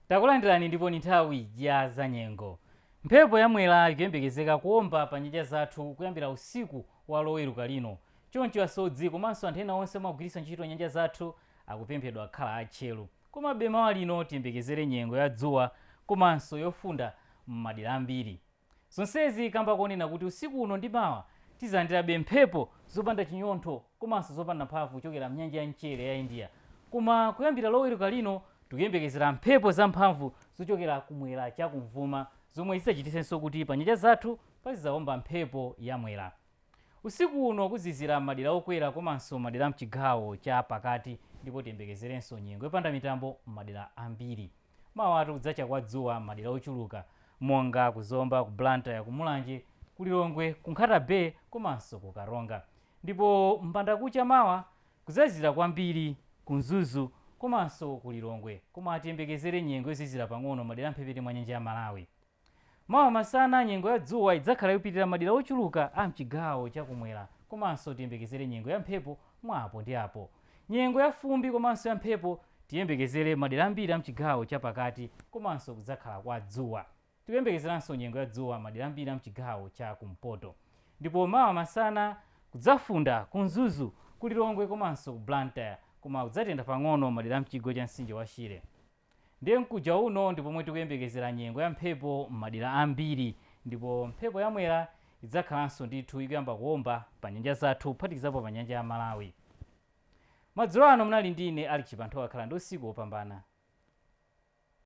takulandirani ndipo ni nthawi ya za nyengo mphepo ya mwera ikuyembekezeka kuomba pa nyanja zathu kuyambira usiku wa loweruka lino choncho asodzi komanso anthu ena onse amagwiritsa ntchito nyanja zathu akupemphedwa akhala atcheru komabe mawa lino tiyembekezere nyengo ya dzuwa komanso yofunda m'madera ambiri Zonsezi kamba konena kuti usiku uno ndi mawa tizalandirabe mphepo zopanda chinyontho komanso zopanda mphamvu kuchokera mnyanja ya mchere ya India. Koma kuyambira loweruka lino tikuyembekezera mphepo za mphamvu zochokera kumwera cha kumvuma zomwe zizachititsenso kuti pa nyanja zathu pazizaomba mphepo ya mwera. Usiku uno kuzizira m'madera okwera komanso madera a m'chigawo cha pakati ndipo tiyembekezerenso nyengo yopanda mitambo m'madera ambiri. Mawatu kudzacha kwa dzuwa m'madera ochuluka monga ku Zomba, ku Blantyre, ku Mulanje, ku Lilongwe, ku Nkhata Bay komanso ku Karonga. Ndipo m'mbandakucha mawa kudzazizira kwambiri ku Mzuzu komanso ku Lilongwe koma tiyembekezere nyengo yozizira pang'ono m'madera a m'mphepete mwa nyanja ya Malawi. Mawa masana, nyengo ya dzuwa idzakhala ikupitirira madera ochuluka a m'chigawo cha kumwera komanso tiyembekezere nyengo ya mphepo mwa apo ndi apo. Nyengo ya fumbi komanso ya mphepo tiyembekezere madera ambiri a m'chigawo cha pakati komanso kudzakhala kwa dzuwa. Tikuyembekezeranso nyengo ya dzuwa madera ambiri a m'chigawo cha kumpoto. Ndipo mawa masana kudzafunda ku Mzuzu, ku Lilongwe komanso ku Blantyre koma kudzatentha pang'ono madera a m'chigwa cha mtsinje wa Shire. Ndiye mkuja uno ndi pomwe tikuyembekezera nyengo ya mphepo m'madera ambiri ndipo mphepo ya Mwera idzakhalanso ndithu ikuyamba kuomba pa nyanja zathu kuphatikizapo pa nyanja ya Malawi. Madzulo ano munali ndi ine Alick Chipanthowa khalani ndi usiku wopambana.